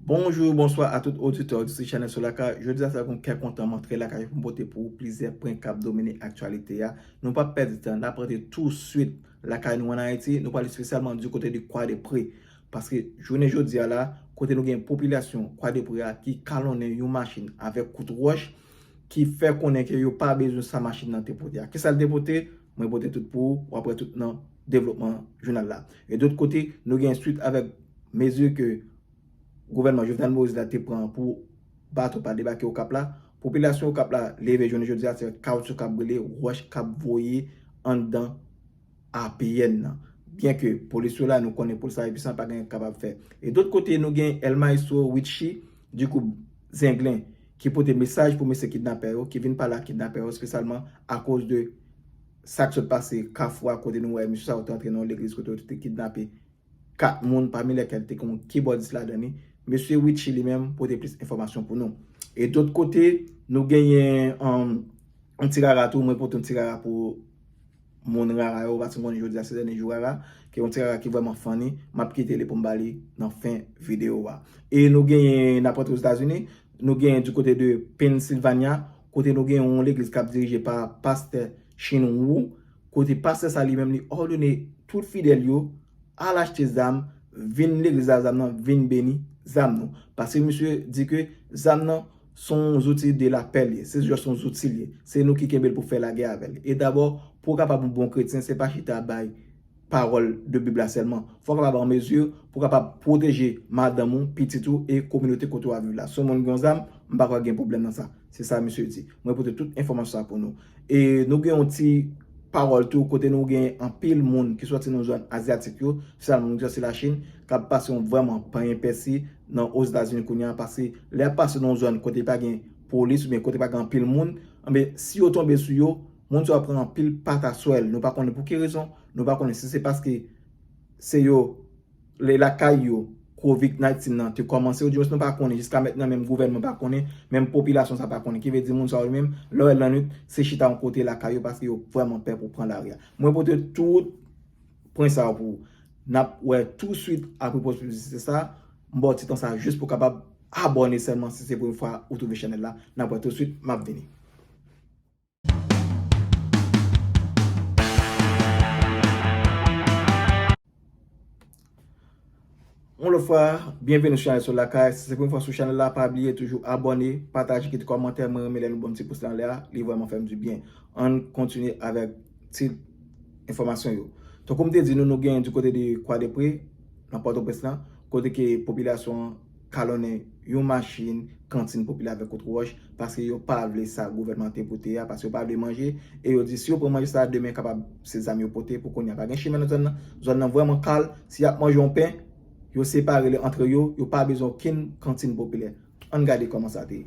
Bonjou, bonswa a tout oditè, oditris chanèl Solaka. Jodi a se avèk yon kè kontan mwen antre lakay ou pou m pote pou ou plizyè pwen k ap domine aktyalite a. Nou pap pèdi tan, n ap rantre tousuit lakay nou an Ayiti. Nou pral espesyalman di kote de Kwadepre. Paske jounen jodi a la, kote nou gen popilasyon Kwadepre a ki kalonnen yon machin avèk kout wòch ki fè konnen ke yo pa bezwen sa machin nan te pote a. Kisa l te pote? Mwen pote tout pou ou, w ap wè tout nan. devlopman jounal la. E dot kote, nou gen swit avèk mezi ke gouvènman Jovenel Moïse la te pran pou bato pa debake Okap la. Popilasyon Okap la leve jounen jodi a se kawoutchou k ap boule, wòch k ap voye anndan APN nan. Byen ke polis yo la, nou konnen polis la enpisan, pa gen yo kapab fè. E dot kote, nou gen El Maestro Richie Ducoup Zenglen ki pote mesaj pou mesye kidnapè yo, ki vin pale ak kidnapè yo espesyalman akoz de. Sak sot pase kafou a kote nou wè mesye sa yo te antre nan yon legliz kote yo te kidnape 4 moun pami lèkèl te gen yon kibòdis ladan li. Mesye Richie li menm pote plis enfòmasyon pou nou. E dot kote nou genyen yon ti rara tou mwen pote yon ti rara pou moun rara yo paske m konnen jodi a se dènye jou rara ke yon ti rara ki vrèman funny map kite li pou m ba li nan fen videyo a. E nou genyen nap rantre Ozetazini Nou genyen du kote de Pennsylvania, kote nou genyen yon legliz kap dirije pa Pastè Chin Wu, kote pastè sa li menm li òdone tout fidèl yo al achte zam, vin legliz la zam nan, vin beni zam nou. Paske misye di ke zam nan son zouti de la pè li ye, se just yon zouti li ye. Se nou ki kenbe l pou fè lagè avè l. E dabò, pou w kapab yon bon kretyen, se pa chita bay. pawòl de Bib la sèlman. Fò w kapab an mezi pou w kapab pwoteje madanm ou, pitit ou e kominote kote w ap viv la. Si yon moun gen yon zam, m pa kwè gen pwoblèm nan sa. Se sa misye di. Mwen pote tout enfòmasyon sa pou nou. E nou gen yon ti pawòl tou kote nou gen anpil moun ki sòti nan zòn azyatik yo, espesyalman moun ki sòti Lachin, k ap pase yon vrèman panyen pèsi nan Ozetazini kounye a. Pase lè y ap pase nan yon zòn kote pa gen polis oubyen kote pa gen anpil moun, anben si yo tonbe sou yo, Moun sa yo pran anpil pataswèl, nou pa konnen pou ki rezon, nou pa konnen si se paske se yo le lakay yo covid 19 nan te kòmanse ou di mwens nou pa konnen jiska mèt nan menm gouvènman pa konnen, menm popilasyon sa pa konnen ki vle di moun sa yo menm lè w lannwit se chita yon kote lakay yo paske yo vrèman pè pou pran lari a. Mwen pote tout pwen sa yo pou ou. N ap wè tou swit apre poz piblisite sa, m ba w ti tan sa jis pou w kapab abòne sèlman si se premye fwa ou twouve chanèl la, n ap wè tou swit m ap vini. Yon lòt fwa, byenveni sou chanèl Sol Lakay. Si se premye fwa sou chanèl la, pa bliye toujou abòne, pataje, kite kòmantè. Mwen renmen lè nou banm ti pous la anlè a, li vrèman fèm di byen. Ann kontinye avèk tit enfòmasyon yo. Tankou m te di nou, nou genyen di kote de Kwadèpre, nan Pòtoprens lan, kote ke popilasyon an. kalonnen yon machin kantin popilè avèk kout wòch paske yo pa vle sa gouvènman an te vote a, paske yo pa vle manje e yo di si yo pran manje sa a demen kapab se zam yo pote pou kounye a pa gen chimè nan zòn nan, zòn nan vrèman kal, si y ap manje yon pen yo separe li antre yo, yo pa bezwen okenn kantin popilè. Ann gade kòman sa te ye.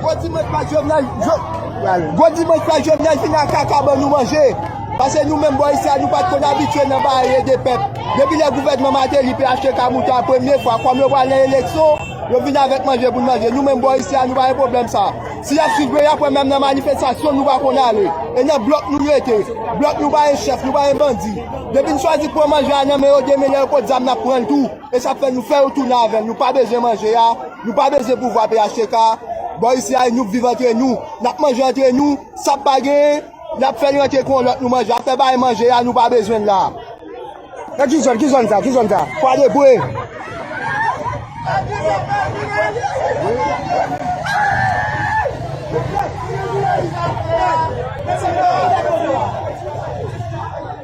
Gwo dimanch pa Jovenel Gwo dimanch pa Jovenel vin ak kaka ban nou manje Pase nou menm bò isi a nou pat konn abitye nan ba ede pèp Depi lè gouvènman Mateli pè achte ka mouton a premye fwa Kòm yo pral nan eleksyon yo vin avèk manje pou n manje Nou menm bò isi a nou pa gen pwoblèm sa a Si y ap swiv yo y ap wè menm nan manifestasyon nou pa konn ale E nan blòk nou rete Blòk nou pa gen chèf nou pa gen bandi Depi n chwazi pran manje a nan men yo demen lè yo pot zam n ap pran l tou. E sa fè nou fè yo tounen avè l nou pa bezwen manje a, nou pa bezwen pouvwa phtk a, bò isi a nou k viv antre nou, n ap manje antre nou, sa k pa genyen, n ap fè l rantre kon lòt nou manje, afè bay manje a nou pa bezwen l la. Nan ki zòn, ki zòn sa, ki zòn sa? Kwadèboue.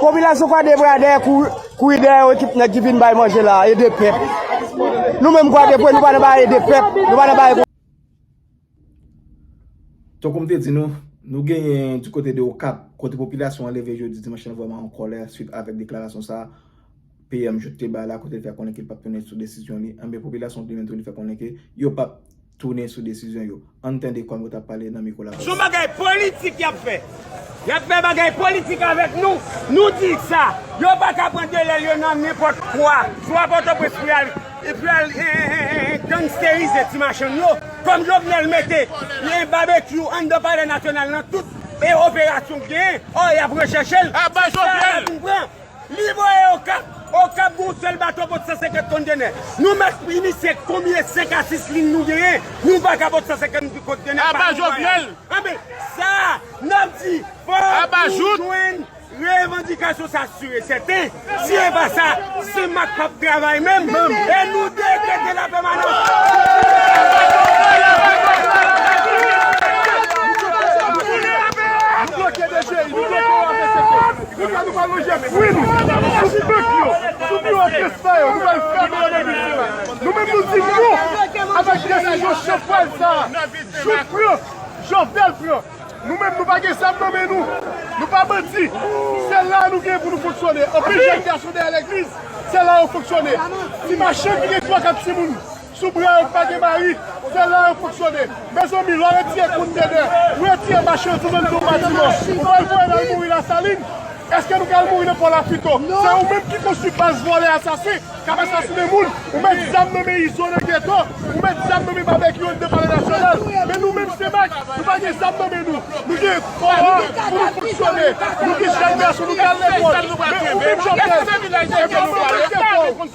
Popilasyon kwadèboukè la dèyè kou, kou yi dèyè ekip nèg ki vin bay manje la, ede pèp. Nou menm kwadèboukè nou pa nan bay ede pèp, nou pa nan bay. Tankou m te di nou, nou genyen di kote de Okap, kote popilasyon an leve jodi dimanch lan vrèman an kòlè swit avèk deklarasyon sa PM Jouthe te bay la kote li fè konnen ke l p ap tounen sou desizyon li. Enben popilasyon an plenmen tou li fè konnen ke yo p ap tounen sou desizyon yo. Ann tande kòm yo t ap pale nan mikwo Lavalas. Yap fè bagay politik avèk nou, nou di sa, yo pa ka pran delèl yo nan nenpòt kwa, swa pòtoprens pou yal pou yal gangsterize ti machann yo, kòm Jovenel mete babekyou anndan palè nasyonal nan tout operasyon k genyen, ò yap rechèchel, se sa yap vin pran. Li voye Okap, Okap gen yon sèl bato pot 150 kontenè. Nou mèt pri misye konbyen 5 a 6 lin nou genyen, nou pa ka pot 150 kontenè pa yon vwayaj. Anbe, sa a, n ap di, fòk nou jwenn revandikasyon sa si e sèten. Si e pa sa, CEMAC p ap travay menm, e nou dekrete la pèmanans. Konsa nou pral lonje fwi nou sou bank yo, sou biwo kès sa yo, nou pral fèmen yo depi demen. Nou menm nou di non avèk desizyon chanpwèl sa a, Jout pran, Jovenel pran. Nou menm nou pa gen zam nan men nou, nou pa bandi, se la a nou gen pou nou fonksyone. Anpil jèn gason dèyè legliz, se la yo fonksyone. Ti machann ki gen twa kat timoun. Sou brenn pa gen mari, se la yo fonksyone. Mezanmi lè w retire kontènè, ou retire machandiz anndan yon batiman, ou pral voye l al mouri Lasalin? Eske nou pral mouri nan pò Lafrito? Se ou menm ki konstwi baz vòlè asasen k ap asasinen moun, ou met zam nan men Izo nan geto, ou met zam nan men Babekyou anndan Palè Nasyonal. Men nou menm Senmak, nou pa gen zam nan men nou. Nou gen kò a pou nou fonksyone. Nou gen jèn gason, nou gen al lekòl. Men ou menm Jovnèl, se pa manman ki gen kò w.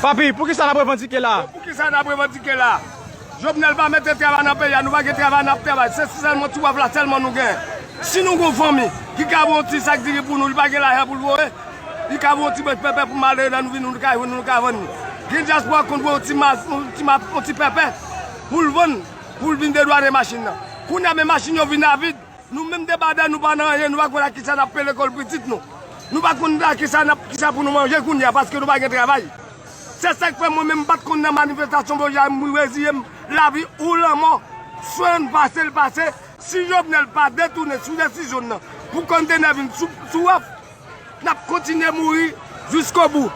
Papi, pou kisa nap revandike la? Pou kisa nap revandike la? Jovenel pa mete travay nan peyi a, nou pa gen travay nap travay, se sèlman ti waf la sèlman nou gen. Si nou gon fanmi ki ka voye yon ti sak diri pou nou, li pa gen lajan pou l voye, li ka voye yon ti bèf pèpè pou malere nan nou vini nou ka jwenn nou, nou ka vann li. Gen dyaspora ki konn voye yon ti mas, yon ti pèpè pou l vann, pou l vin dedwane machin nan. Kounye a men machin yo vin avid. Nou menm de Baden nou pa nan anyen, nou pa konn ak kisa nap peye lekòl pitit nou. Nou pa konn ak kisa nap, kisa pou nou manje kounye a paske nou pa gen travay. Se sak fè mwen menm m pat konn nan manifestasyon bon jan m reziyem lavi ou lanmò. Swen pase l pase, si Jovenel pa detounen sou desizyon n nan pou konntenè vin sou sou waf, nap kontinye mouri jiskobou.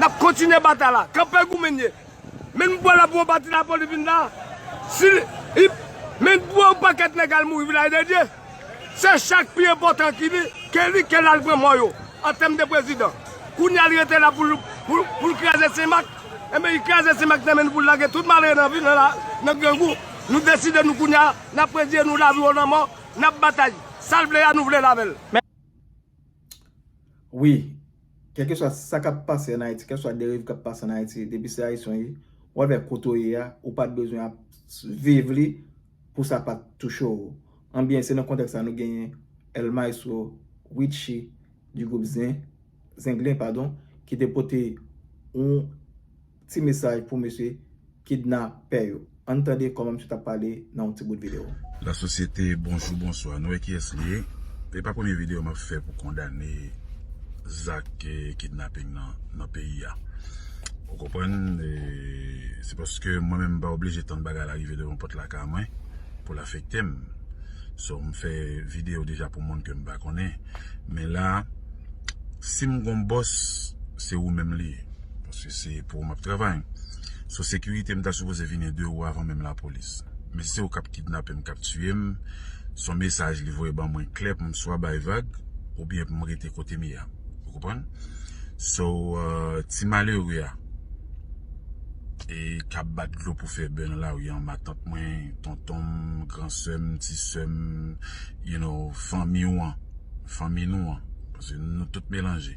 Nap kontinye batay la. Kanpe goumen n ye. Men m pwal apre yon pati la poli vin la si li men m pran yon pakèt nèg al mouri vilaj de Dye se chak pi enpòtan ki li ke li ke l al pran mò yo an tèm de prezidan kounya li rete la pou l pou l kraze senmak enben li kraze senmak nan men nou pou l lage tout malere nan vil nan grangou nou deside nou kounya n ap prezye nou lavi ou lanmò n ap batay sa l vle a nou vle l avè l. Wi Kèlkeswa sa kap pase an Ayiti, kèlkeswa deriv kap pase an Ayiti, depi se Ayisyen w ye, w al wè kote w ye a, ou pat bezwen ap viv li pou sa pat touche w. Anbyen se nan kontèks sa nou genyen El Maestro Richie du groupe Zenglen padon ki te pote yon Ti mesaj pou mesye kidnapè yo. Ann tande kòman misye t ap pale nan yon ti bout videyo. La sosyete bonjou bonswa nou wè kiyès li ye e pa premye video map fè pou kondane zak kidnaping nan nan peyi a ou konprann e se paske mwen menm mpa oblije tann bagay la rive devan pòt lakay mwen poul afektem so mfè video deja pou moun kem pa konnen men la sim gon bòs se ou menm li ye. Paske se pou ou map travay. So sekirite m ta sipoze vini de ou avan menm lapolis. Men si se ou kap kidnape m, kap tiye m, son mesaj li voye ban mwen klè pou m swa bay vag oubyen pou m rete kote m ye a. Ou konprann? So ti malere a e kap bat dlo pou fè bè nan lari an, matant mwen, tonton m, gran sè m, ti sè m, you know, fanmi ou an, fanmi nou an, paske nou tout melanje.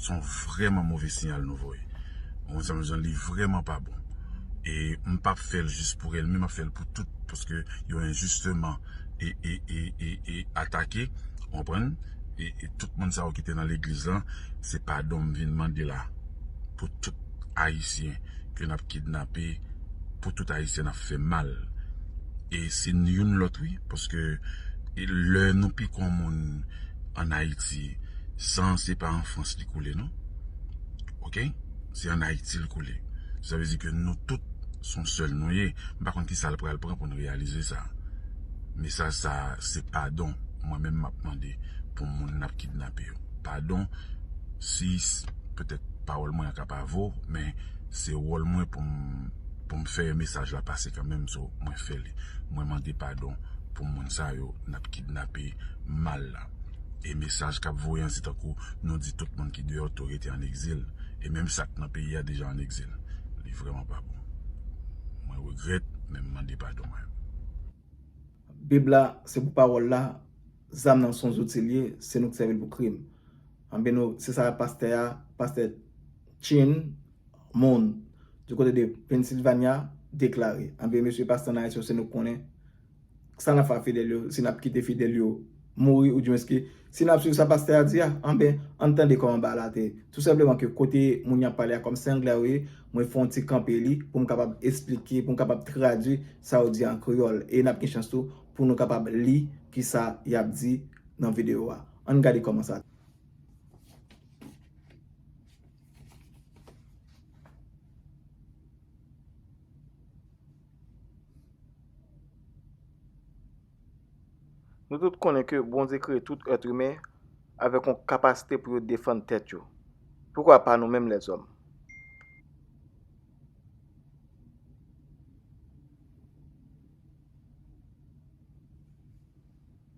son vreman move siyal nou voye mwen sanble jan li vreman pa bon e m pap fel jis pou elmi map fel pou tout paske yo enjisteman e e e e e atake ou konprann e e tout moun sa yo ki te nan legliz lan se padon m vin mande la pou tout ayisyen ke nap kidnape pou tout ayisyen nap fe mal e se youn lot wi paske e le nou piko moun an ayiti. San se pa an frans li koule non ok se an ayiti li koule sa vle di ke nou tout son sèl nou ye m pa konn kisa l pral pran pou n reyalize sa mesaj sa se padon mwen menm m ap mande pou moun n ap kidnape yo padon si petèt pawòl mwen an ka pa vo men se wòl mwen pou m pou m fè mesaj la pase kanmenm so mwen fè li mwen mande padon pou moun sa yo n ap kidnape mal la. E mesaj kap voye an se tankou nou di tout moun ki deyò tou rete an egzil e menm sak nan peyi a deja an egzil li vreman pa bon mwen regrèt men m mande padon mwen. Bib la se pou pawòl la, zam nan son zouti liye, se nou k sèvi l pou krim. Anben nou se sa pastè a, pastè Chin Moon du côté de Pennsylvania deklare. Anben mesye pastè an Ayiti yo se nou k konnen. sa nap fè ak fidèl yo si nap kite fidèl yo mouri oudyemens ke si nap swiv sa pastè a di a anben ann tande kòman bagay la te ye tou senpleman ke kote moun yap pale a kòm se anglè yo ye mwen fè yon ti kanpe li pou m kapab esplike pou m kapab tradui sa yo di an kreyòl e nap gen chans tou pou nou kapab li kisa yap di nan videyo a ann gade kòman sa te ye. Nou tout konnen ke Bondye kreye tout èt imen avèk yon kapasite pou yo defann tèt yo. Poukwa pa nou menm lèzòm?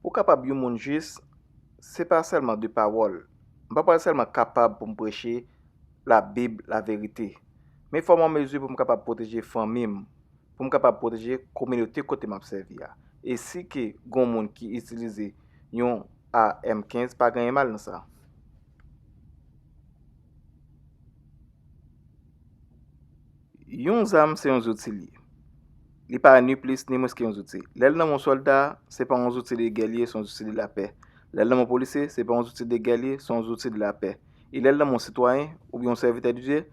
Pou kapab yon moun jis, se pa sèlman de pawòl. M pa pral sèlman kapab pou m preche Labib laverite. Men fòm an mezi pou m kapab pwoteje fanmi m, pou m kapab pwoteje kominote kote m ap sèvi a. E si ke gon moun ki itilize yon AR-M 15 pa genyen mal nan sa. Yon zam se yon zouti li ye. Li pa ni plis ni mwens ke yon zouti. Lè l nan men yon sòlda, se pa yon zouti de gè li ye, se yon zouti de lapè. Lè l nan men yon polisye, se pa yon zouti de gè li ye, se yon zouti de lapè. e lè l nan men yon sitwayen oubyen yon sèvitè di Dye,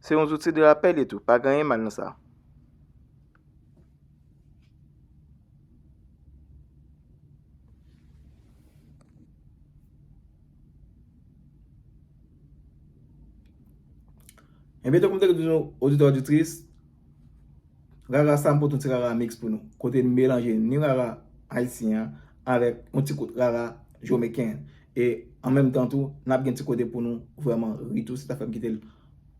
se yon zouti de lapè l ye tou, pa gen anyen mal nan sa. Enbyen tankou m te di nou, oditè oditris, Rara sa m pote yon ti rara mix pou nou kote n melanje ni rara ayisyen an avèk yon ti kout rara jomeken e an menm tan tou n ap gen ti kote pou nou vrèman ri tou se sa fè m kite l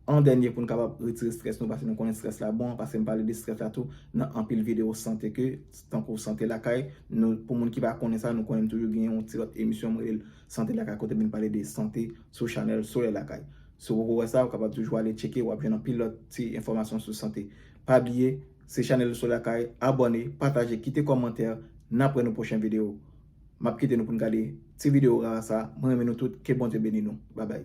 an dènye pou n kapab retire strès nou paske nou konnen strès la bon paske m pale de strès la tou nan anpil videyo sante ke tankou sante lakay nou pou moun ki pa konnen sa nou konnen m toujou gen yon ti lòt emisyon m rele l sante lakay kote m vin pale de sante sou chanèl solèy lakay. Si w poko wè sa, ou kapab toujou ale tcheke, wap jwenn anpil lòt ti enfòmasyon sou sante. Pa bliye, se chanèl ou sou lakay, abòne, pataje, kite kòmantè, nap wè nou pwochen video. Map kite nou pou nou gade ti video rara sa, mwen renmen nou tout, ke Bondye beni nou. Babay.